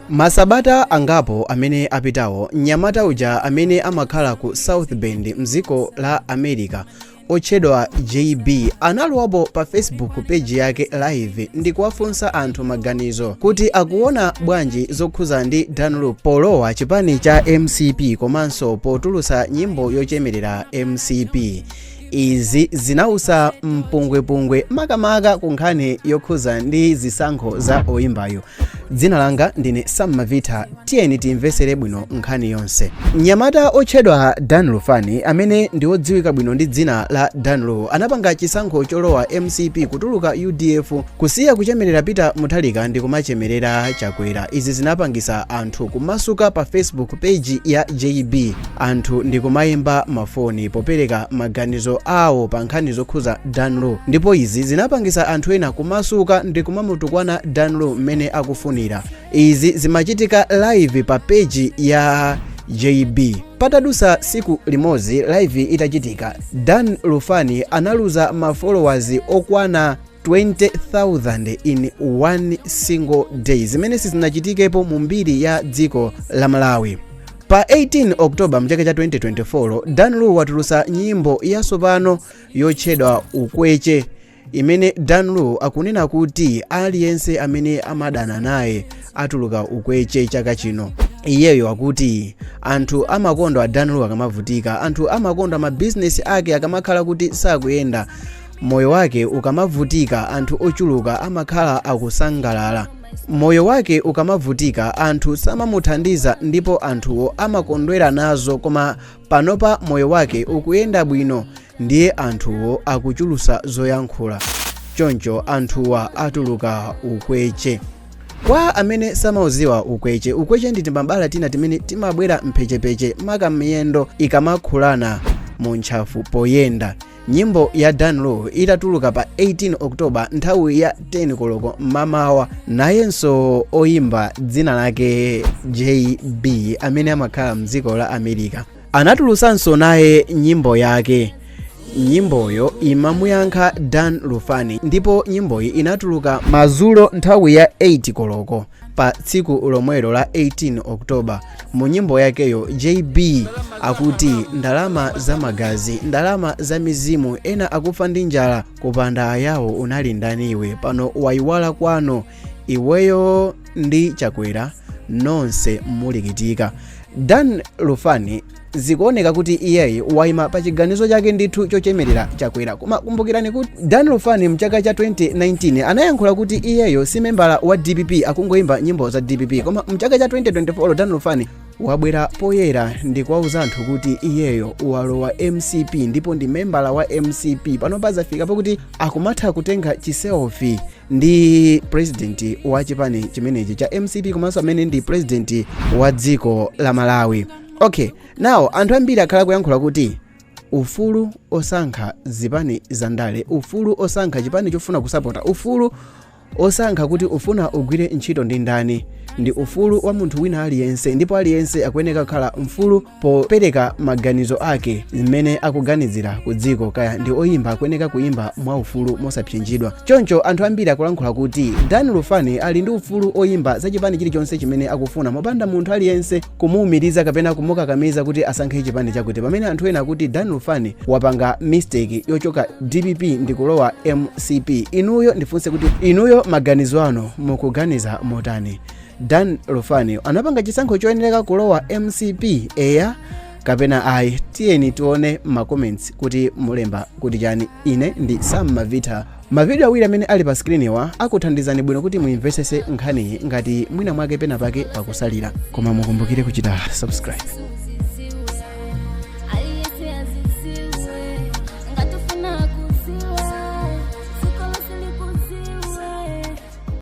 Masabata angapo amene apitawo, mnyamata uja amene amakhala ku South Bend mdziko la America otchedwa JB analowapo pa Facebook page yake live ndi kuwafunsa anthu maganizo kuti akuona bwanji zokhuza ndi Dan Lu polowa chipani cha MCP komanso potulusa nyimbo yochemerera MCP. izi zinausa mpungwepungwe makamaka ku nkhani yokhuza ndi zisankho za oyimbayu dzina langa ndine sammavita tiyeni timvesere bwino nkhani yonse mnyamata otchedwa dan lufani amene ndi odziwika bwino ndi dzina la dan lu anapanga chisankho cholowa mcp kutuluka udf kusiya kuchemerera peter mutharika ndi kumachemerera chakwera izi zinapangisa anthu kumasuka pa facebook page ya jb anthu ndikumaimba mafoni popereka maganizo awo pa nkhani zokhuza Dan Lu ndipo izi zinapangisa anthu ena kumasuka ndi kumamutukwana Dan Lu mmene akufunira izi zimachitika live pa peji ya JB patadusa siku limodzi live itachitika Dan Lufani analuza ma followers okwana 20,000 in one single day zimene sizinachitikepo mu mbiri ya dziko la malawi pa 18 oktoba mchaka cha 2024 dan lu watulusa nyimbo yatsopano yotchedwa ukweche imene dan lu akunena kuti aliyense amene amadana naye atuluka ukweche chaka chino iyeyo akuti anthu amakondwa dan lu akamavutika anthu amakondwa mabizinesi ake akamakhala kuti sakuyenda moyo wake ukamavutika anthu ochuluka amakhala akusangalala moyo wake ukamavutika anthu samamuthandiza ndipo anthuwo amakondwera nazo koma panopa moyo wake ukuyenda bwino ndiye anthuwo akuchulusa zoyankhula choncho anthuwa atuluka ukweche kwa amene samauziwa ukweche ukweche ndi timabala tina timene timabwera mphechepeche maka miyendo ikamakhulana mu ntchafu poyenda nyimbo ya dan lu itatuluka pa 18 oktoba nthawi ya 10 koloko mmamawa nayenso oyimba dzina lake jb amene amakhala mdziko la america anatulusanso naye nyimbo yake nyimboyo imamuyankha dan lufani ndipo nyimboyi inatuluka madzulo nthawi ya 8 koloko pa tsiku lomwelo la 18 oktoba mu nyimbo yakeyo jb akuti ndalama za magazi ndalama za mizimu ena akufa ndi njala kupanda ayawo unali ndaniwe pano wayiwala kwanu iweyo ndi chakwera nonse mulikutika dan lufani zikuoneka kuti iyeyi waima pa chiganizo chake ndithu chochemerera chakwera koma kumbukirani kuti dan lufani mchaka cha 2019 anayankhula kuti iyeyo si membala wa dpp akungoimba nyimbo za dpp koma mchaka cha 2024 dan lufani wabwera poyera ndi kuwauza anthu kuti iyeyo walowa mcp ndipo ndi membala wa mcp pano pazafika pokuti akumatha kutenga chiselfi ndi president wa chipani chimenechi cha mcp komanso amene ndi president wa dziko la malawi okay now anthu ambiri akhala akuyankhula kuti ufulu osankha zipani za ndale ufulu osankha chipani chofuna kusapota ufulu osankha kuti ufuna ugwire ntchito ndi ndani ndi ufulu wa munthu wina aliyense ndipo aliyense akuyeneka kukhala mfulu popereka maganizo ake zimene akuganizira ku dziko kaya ndi oyimba akuyeneka kuyimba mwa ufulu mosapsinjidwa choncho anthu ambiri akulankhula kuti dan lufani ali ndi ufulu oyimba za chipani chilichonse chimene akufuna mopanda munthu aliyense kumuumiriza kapena kumukakamiza kuti asankhe chipani chakuti pamene anthu ena akuti dan lufani wapanga mistake yochoka dpp ndikulowa mcp inuyo ndifunse kuti inuyo maganizo anu mukuganiza motani dan lufani anapanga chisankho choyenera kulowa mcp eya kapena ayi tiyeni tione macomments kuti mulemba kuti chani ine ndi sam mavita Mavidiyo awiri amene ali pa sikiriniwa akuthandizani bwino kuti muimvetsetse nkhaniyi ngati mwina mwake pena pake pakutsalira koma mukumbukire kuchita subscribe